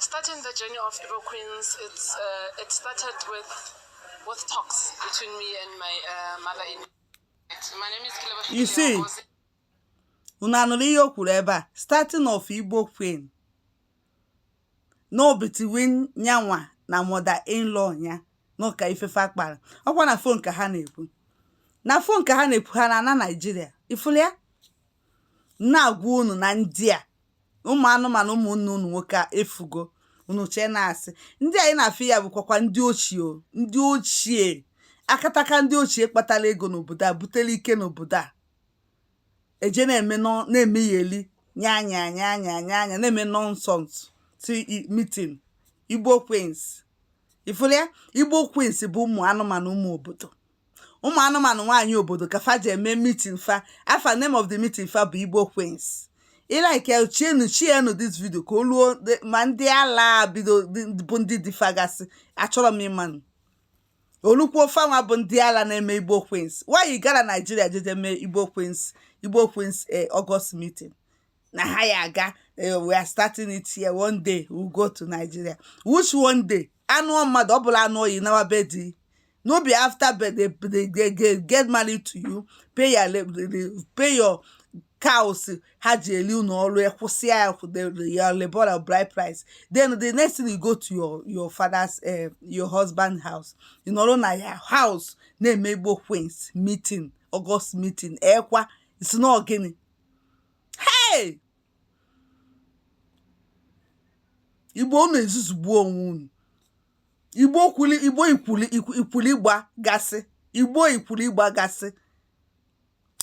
Starting the journey of Igbo Queens, it's, uh, it started with, with talks between me and my uh, mother in law My name is Kelebohile. You see, unu anụrụ ihe o kwuru ebe a starting of Igbo Queen nọ between nyanwa na mother in law ya n'ụka ife fa kpara ọkwa na fon ka ha na-ekwu na fon ka ha na-ekwu ha na ana Naịjirịa ị fụlụ ya na-agwa unu na ndị a ụmụ anụmanụ ụmụnne unu nwoke efugo unu chee na asị ndị anyị na-afụ ya bụkwakwa ndị ochie o, ndị ochie akataka ndị ochie kpatara ego n'obodo a butere ike n'obodo a eje na-eme nọ- na-eme yeli nya nya nya na-eme nonsense ti meeting igbo queens ị fụlụ ya igbo queens bụ ụmụ anụmanụ ụmụ obodo ụmụ anụmanụ nwaanyị obodo ka fa ji eme meeting fa afa name of the meeting fa bụ igbo queens like sharenụ sharenụ this video ka o ruo the- ma ndị ala bido dị- bụ ndị di fa gasị achọrọ m ịmanụ olukwu fanwa bụ ndị ala na-eme igbo queens why gara naijiria jeje mee igbo queens igbo queens eh, august meeting na ha ya-aga eh, we are starting it here one day we go to Nigeria which one day anụọ mmadụ ọ bụla anụọ yi nawa be di no be after they, they, they, they, they get married to you pay your pay your cows ha ji eli unu ọrụ ya kwụsịa your lobola bride price then the next thing you go to your your father's uh, your husband house ị nọrọ na your house na-eme igbo queens meeting August meeting ekwa ị sị na ọ gịnị hey igbo unu ezuzugbuo onwe unu igbo kwuli igbo ikwuli ikwuli gba gasị igbo ikwuli gba gasị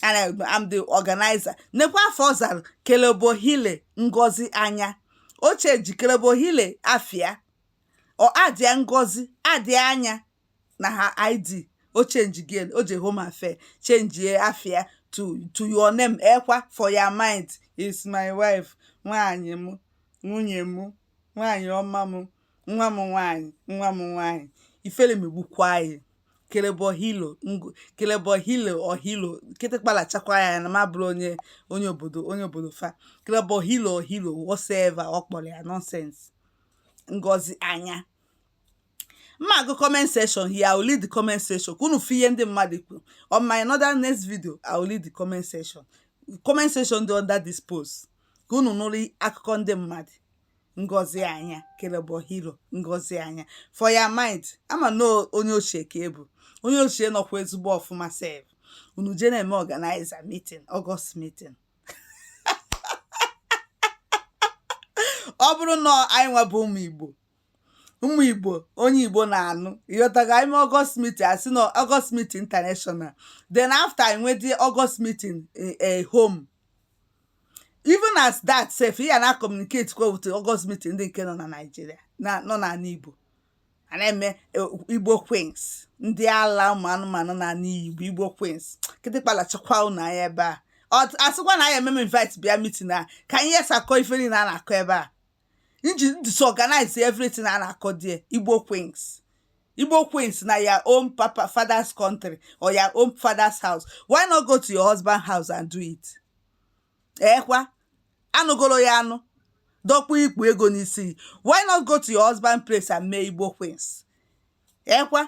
and I'm the organizer nekwa afa ọ zara kelebohile ngozi anya o change kelebohile afa ya ọ addịa ngozi addịa anya na her id o change again o je home affair changee afa ya to to your name ekwa for your mind is my wife nwaanyị m nwunye m nwaanyị ọma m nwa m nwaanyị nwa m nwaanyị ifele megbukwa yi kelebe ohilo kelebe ohilo ohilo kịtịkpa lachakwa ya na m abụrọ onye onye obodo onye obodo fa kelebe ohilo ohilo whatever ọ kpọrọ ya nonsense ngozi anya mma agụ comment section here i will read the comment section ka unu fụ ihe ndị mmadụ kwuru on my another next video i will read the comment section comment section dị under this post ka unu nụrụ akụkọ ndị mmadụ ngozi anya kelebo hero ngozi anya for your mind ị ma na onye ochie ka ị bụ onye ochie nọkwa ezigbo ọfụma sef unu je na-eme organize meeting august meeting ọ bụrụ na anyị nwa bụ ụmụ igbo ụmụ igbo onye igbo na-anụ ịghọtago anyị mee august meeting a sị na august meeting international then after anyị nwedị august meeting e home even as that sef ya na communicate kwa with august meeting ndị nke nọ na naijiria nọ n'ala igbo a na-eme e, igbo queens ndị ala ụmụ anụmanụ n'ala igbo igbo queens kịtịkpa lachakwa ụnụ anya ebe a asịkwa na anyị ememe invite bịa meeting a ka anyị yesakọ ife niile a na-akọ ebe a nji disorganize everything a na-akọ there igbo queens igbo queens na your own father's country or your own father's house why not go to your husband house and do it ekwa eh, a nụgolo ya anụ dọkpụ ikpu ego n'isi why not go to your husband place and mee igbo queens ekwa eh,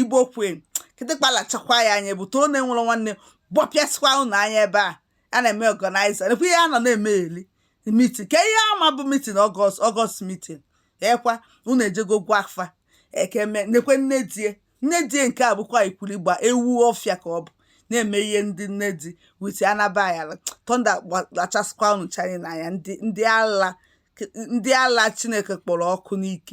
igbo queen kịtịkpa lachakwa ya anya bụ too na-enwere nwanne gbọpịasịkwa ụnụ anya ebe a a na-eme organize nekwa ihe a nọ na-eme eli meeting ka ihe a ma bụ meeting august meeting ekwa ụnụ ejego gwa afa ekeme nekwe nne die nne die nke a bụkwa ikwurigba ewu ọfịa ka ọ bụ na-eme ihe ndị nne di with anabayala thunder gbachasịkwa ụnụ chanyị n'anya ndị ala chineke kpọrọ ọkụ n'ike